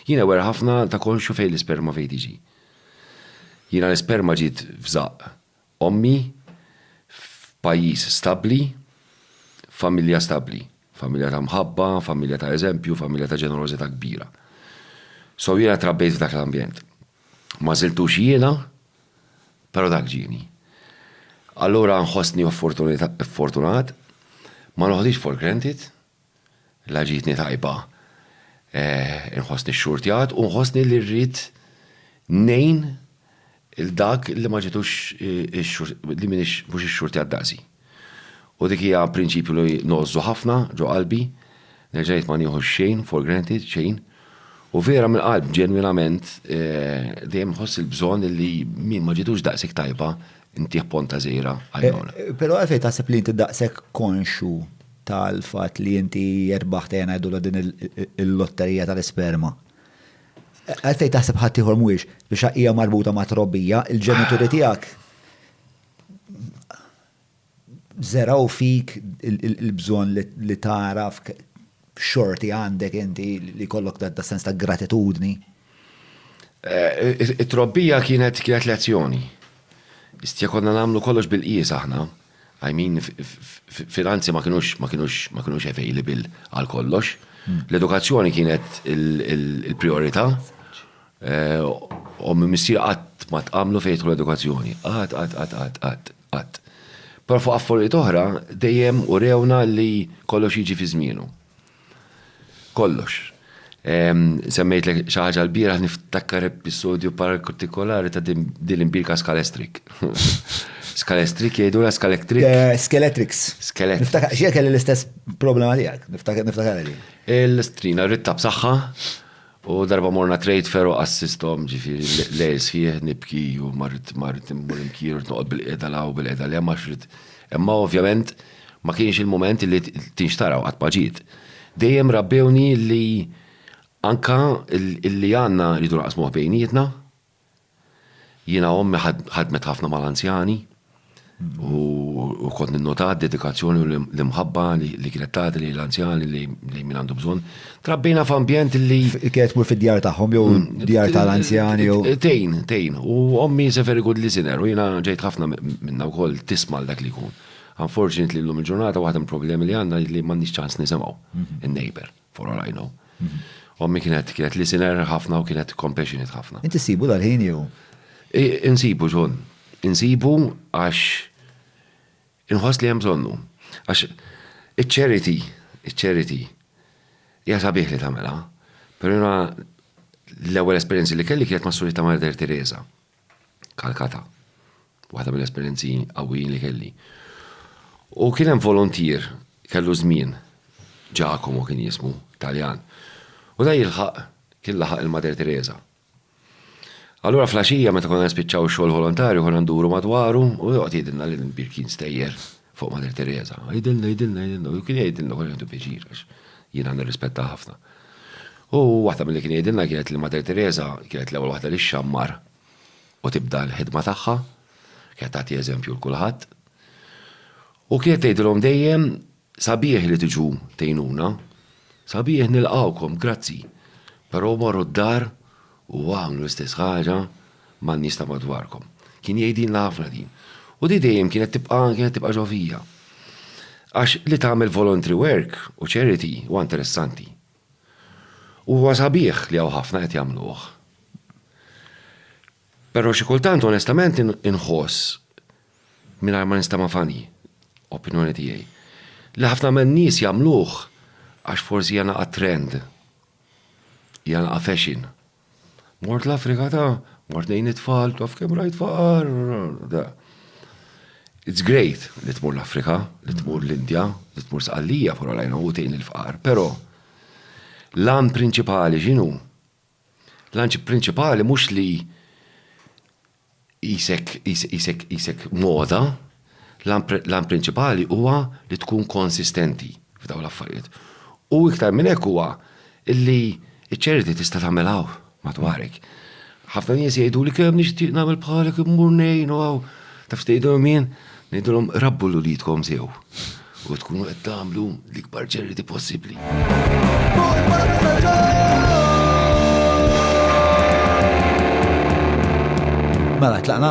Jien aware ħafna ta' konxju fejn l-isperma fejn tiġi. Jiena l-isperma ġiet f'żaqq ommi, f'pajjiż stabbli, f'familja stabbli. Familja ta' mħabba, familja ta' eżempju, familja ta' ġenerożità kbira. So jiena trabbejt f'dak l-ambjent. Ma żiltux jiena, però dak ġieni. Allura nħossni ffortunat, ma noħdhiex for granted. La ġietni tajba inħossni xxurtjat u nħossni li rrid ngħin lil dak li ma ġietux li m'iniex mhux ixxurtjat daqsi. U dik hija prinċipju li ngħożżu ħafna ġo qalbi, nerġa' ngħid ma nieħux xejn for granted, xejn. U vera mill-qalb, ġenwinament, dejjem inħoss il-bżonn li min ma ġietux daqshekk tajba ntih ponta żgħira għajnuna. Però għalfejn taħseb li inti daqshekk konxju tal-fatt li inti jirbaħt ejja ngħidulha din il-lotterija tal-isperma. Għalfejn taħseb ħadd ieħor mhuwiex biex hija marbuta ma' trobbija, il-ġenituri tiegħek zeraw fik il-bżonn li taraf xorti għandek inti li kollok da sens ta' gratitudni. Eh, it-trobbija kienet kienet lezzjoni. Istja konna namlu kollox bil-qies aħna. I mean, finanzi ma kinux, ma kinux, ma kinux available għal kollox. L-edukazzjoni kienet il-priorità. Eh, u minn missir qatt ma tqamlu fejn l edukazzjoni. Qatt, qatt, qatt, qatt, qatt, qatt. Però fuq affarijiet oħra dejjem u rewna li kollox jiġi fi żmienu. kollox. Semmejtlek xi ħaġa l-bieraħ niftakar episodju partikolari ta' din l-imbirka skalestrik. Skalestrik jgħidu la skalestrik. Eh, Skeletrix. Skeletrix. Niftakar, xie kelli l-istess problema tiegħek, niftakar niftakar li. Il-strina rritta b'saħħa U darba morna trade fair u assistom ġifiri lejl sħiħ nibki u marrit marrit immur imkir u noqgħod bil-qiegħda law bil-qiegħda li ma xrid. Imma ovvjament ma kienx il-moment li tinxtaraw qatt ma ġiet. Dejjem rabbewni li anka li għandna rridu naqsmuh bejnietna Jiena ommi ħadmet ħafna mal-anzjani u kont ninnota d-dedikazzjoni u l-imħabba li kienet tagħti lil anzjani li min għandu bżonn. Trabbina f'ambjent li. Kienet tmur fid-djar tagħhom jew mm, djar tal-anzjani jew. Tejn, tejn. U ommi is a very good listener u jiena ġejt ħafna minna wkoll tisma' dak li jkun. Unfortunately llum il-ġurnata waħda mill-problemi li għandna li m'għandniex ċans nisimgħu mhm. in-neighbor. for all I know. Ommi kienet kienet listener ħafna u kienet compassionate ħafna. Inti sibu dal-ħin jew? Insibu ġon. Insibu għax inħoss li hemm bżonnu. Għax iċ-charity, iċ-charity, hija sabiħ li tagħmilha, però l-ewwel esperjenzi li kelli kienet ma' Surita Marder Teresa. Calcutta. Waħda mill-esperjenzi qawwijin li kelli. U kien hemm volontier kellu żmien, Giacomo kien jismu, Taljan. U da jilħaq kien laħaq il-Mater Teresa. Allura fl-għaxija meta konna nispiċċaw ix-xogħol volontarju konna nduru madwaru u joqgħod jgħidilna li l-imbir kien stejjer. fuq Mater Teresa. Għidilna, għidilna, għidilna. U kien jgħidilna kol jgħidu pieċir, għax jiena nirrispetta ħafna. U waħda mill-li kien jgħidilna kienet li Mater Teresa kienet l-ewwel waħda li xammar u tibda l-ħidma tagħha, kienet tagħti eżempju l kulħadd. U kienet tgħidilhom dejjem sabiħ li tiġu tejnuna, sabiħ nilqawkom, grazzi. Però morru d-dar u għamlu l-istess ħaġa man-nies ta' madwarkom. Kien jgħidilna ħafna din. U di dejjem kienet tibqa' kienet tibqa' ġo fija. Għax li tagħmel voluntary work u charity huwa interessanti. U huwa sabiħ li hawn ħafna qed jagħmluh. Però xi kultant onestament inħoss, mingħajr ma nistema' funny, opinjoni tiegħi, li ħafna man-nies jagħmluh għax forsi hija naqa' trend, hija naqa' fashion. Mort l-Afrika ta' mort nejn it-tfal, taf kem rajt faqar. It's great li tmur l-Afrika, li tmur l-Indja, li tmur sqallija pura lajna u tejn il-faqar, pero lan prinċipali xinu? Lan prinċipali mux li qisek moda, l-għan prinċipali huwa li tkun konsistenti f'dawn l-affarijiet. U iktar minn hekk huwa li ċ-charity tista' tagħmel hawn madwarek. Ħafna nies jgħiduli kemm nixtieq nagħmel bħalek immur ngħin u hawn. Taf x'tgħidilhom jien? Ngħidulhom rabbu 'l uliedkom sew u tkunu qed tagħmlu l-ikbar charity possibbli. Mela tlaqna?